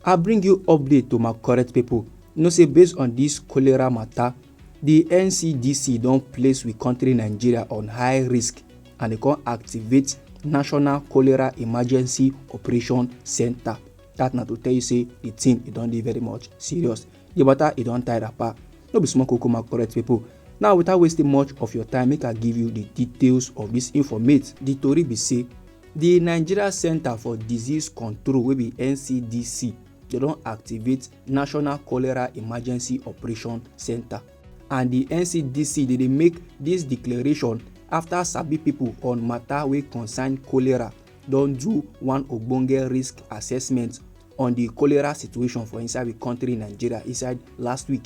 I bring you update to my correct people. You know say based on this cholera matter, the NCDC don place we country Nigeria on high risk and they come activate National Cholera Emergency Operation Center. That na to tell you say the thing e don dey very much serious. The matter e don tie wrapper. No be small koko my correct people. Now without wasting much of your time, make I give you the details of this informate. The tori be say di nigeria centre for disease control wey be ncdc dem don activate national cholera emergency operation centre and di ncdc dey dey make dis declaration afta sabi pipo on mata wey concern cholera don do one ogbonge risk assessment on di cholera situation for inside di kontri nigeria inside last week.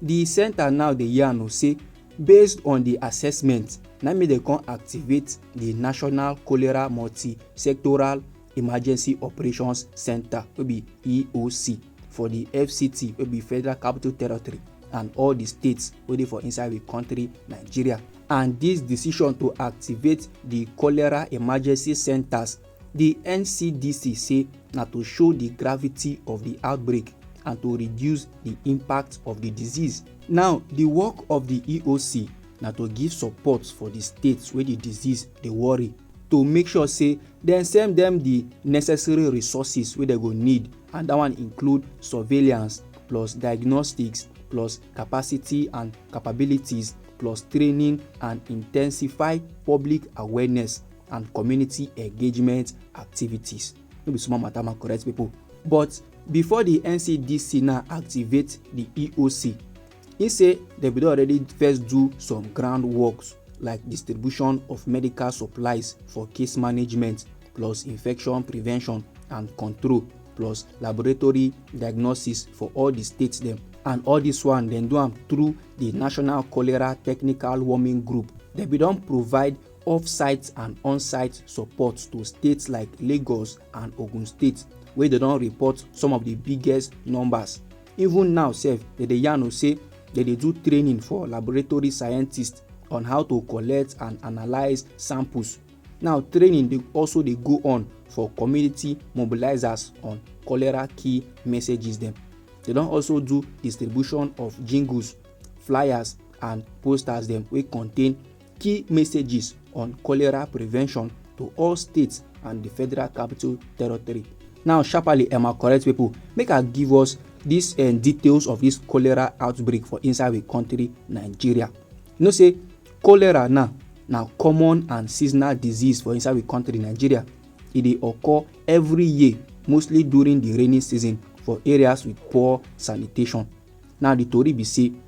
Di centre now dey yarn o say based on di assessment na make dem come activate di National Cholera Multi-Sectoral Emergency Operations Centre wey be EOC for di FCT wey be Federal Capital Territory and all di states wey dey for inside di country Nigeria and dis decision to activate di cholera emergency centres Di NCDC say na to show di gravity of di outbreak and to reduce di impact of di disease. Now, di work of di EOC na to give support for di states wey di disease dey worry to make sure say dem send dem di necessary resources wey dem go need and dat one include surveillance plus diagnostics plus capacity and capabilities plus training and intensify public awareness. and community engagement activities no be small matter my correct people but before the ncdc now activate the eoc he say they bin already first do some ground works like distribution of medical supplies for case management plus infection prevention and control plus laboratory diagnosis for all the states dem and all this one dem do am through the national cholera technical warming group dem bin don provide off-site and on-site support to states like Lagos and Ogun State wey dey don report some of di biggest numbers. Even now sef, dem dey yarn o say dem dey do training for laboratory scientists on how to collect and analyse samples. Now training dey also dey go on for community mobilisers on cholera key messages dem. Dem don also do distribution of jingles, flyers and posters dem wey contain key messages on cholera prevention to all states and the federal capital territory now sharply emma correct people make i give us these uh, eh, details of this cholera outbreak for inside the country nigeria you know say cholera now na common and seasonal disease for inside the country nigeria e dey occur every year mostly during the rainy season for areas with poor sanitation now the tori be say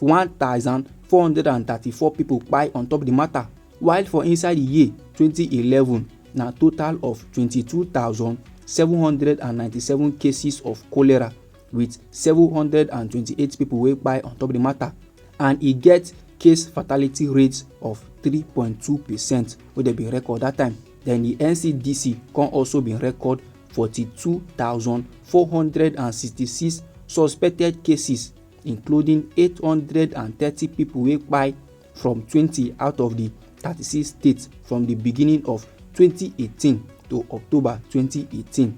1,434 pipo kpai on top di mata while for inside di year 2011 na total of 22,797 cases of cholera wit 728 pipo wey kpai on top di mata and e get case fatality rate of 3.2 percent wey dem bin record dat time den di ncdc come also bin record 42,466 suspected cases including 830 pipo wey kpai from twenty out of di thirty six states from di beginning of twenty eighteen to october twenty eighteen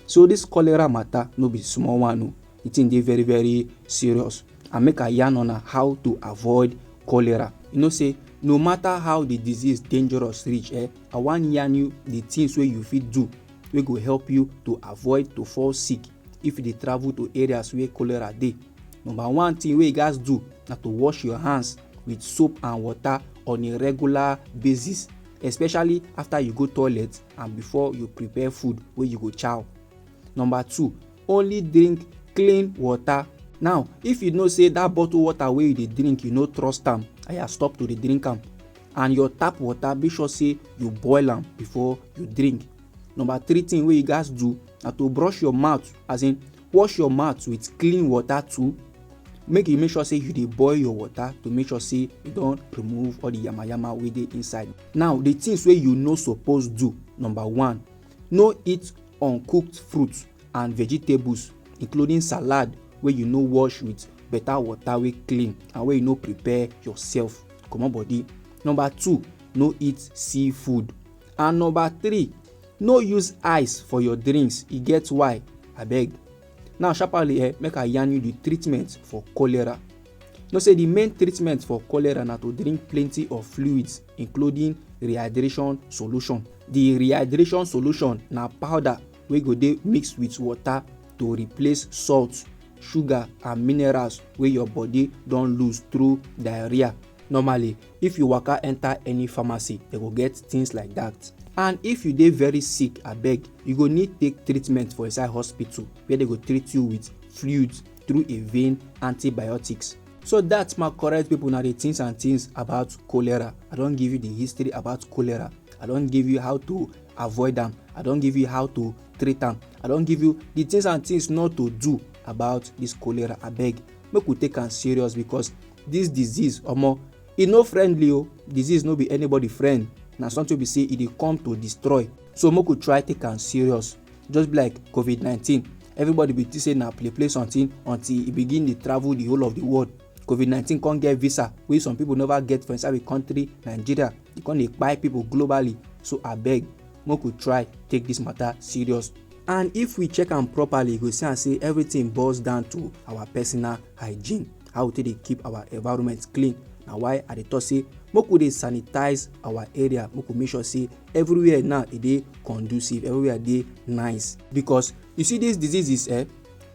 so dis cholera mata no be small one o di tin dey very very serious and make i yarn una how to avoid cholera you know say no matter how di disease dangerous reach eh i wan yarn you di tins wey you fit do wey go help you to avoid to fall sick if you dey travel to areas where cholera dey number one thing wey you gats do na to wash your hands with soap and water on a regular basis especially after you go toilet and before you prepare food wey you go chow number two only drink clean water now if you know say that bottle water wey you dey drink you no trust am aya stop to dey drink am and your tap water make sure say you boil am before you drink number three thing wey you gats do na to brush your mouth as in wash your mouth with clean water too make you make sure say you dey boil your water to make sure say you don remove all the yamayama wey dey inside now the things wey you no suppose do number one no eat uncooked fruit and vegetables including salad wey you no wash with better water wey clean and wey you no prepare yourself comot body number two no eat seafood and number three no use ice for your drinks e get why abeg now sharparly eh make i yarn you the treatment for cholera know say the main treatment for cholera na to drink plenty of fluids including rehydration solution the rehydration solution na powder wey go dey mixed with water to replace salt sugar and minerals wey your body don lose through diarrhea normally if you waka enter any pharmacy they go get things like that and if you dey very sick abeg you go need take treatment for inside hospital where they go treat you with fluids through a vein antibiotics so that my correct people na the things and things about cholera i don give you the history about cholera i don give you how to avoid am i don give you how to treat am i don give you the things and things not to do about this cholera abeg make we take am serious because This disease omo e no friendly o, disease no be anybody friend, na something wey be say e dey come to destroy so make we try take am serious just be like covid nineteen everybody be think say na play play something until e begin dey travel the whole of the world covid nineteen come get visa wey some people never get for inside the country nigeria e come dey kpai people globally so abeg make we try take this matter serious and if we check am properly you go see am say everything boils down to our personal hygiene how we take dey keep our environment clean na why i dey talk say make we dey sanitize our area make we make sure say everywhere now e dey conducive everywhere dey nice because you see these diseases eh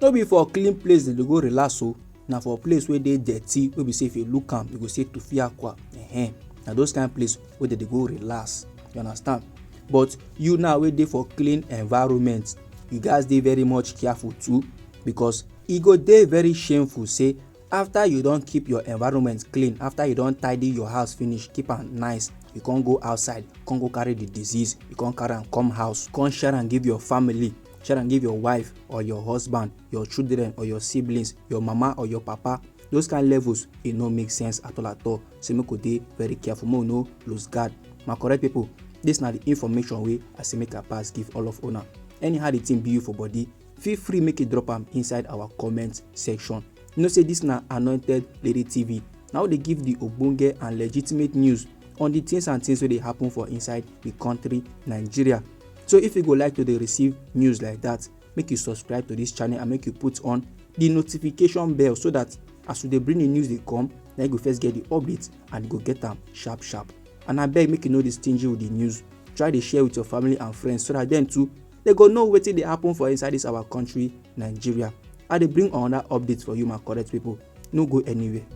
no be for clean place dem dey go relax o na for place wey dey dirty wey be say if you look am you go say tufiakwa eh na those kind place wey dem dey go relax you understand but you now wey dey for clean environment you gats dey very much careful too because E go dey very shameful say after you don keep your environment clean, after you don tidy your house finish, keep am nice, you come go outside, come go carry the disease, you come carry am come house, come share am give your family, share am give your wife or your husband, your children or your siblings, your mama or your papa. Those kind levels, e no make sense at all at all. Say make we dey very careful, make we no lose guard. My correct people, this na the information wey I say make I pass give all of una. Anyhow the thing be you for body, feel free make you drop am inside our comment section you know say this na anointed lady tv na we dey give the ogbonge and legitimate news on the things and things wey dey happen for inside the country nigeria so if you go like to dey receive news like that make you subscribe to this channel and make you put on the notification bell so that as we dey bring the news dey come na you go first get the update and you go get am sharp sharp and abeg make you no dey stingy with the news try dey share with your family and friends so that dem too they go know wetin dey happen for inside this our country nigeria i dey bring another update for you my correct people no go anywhere.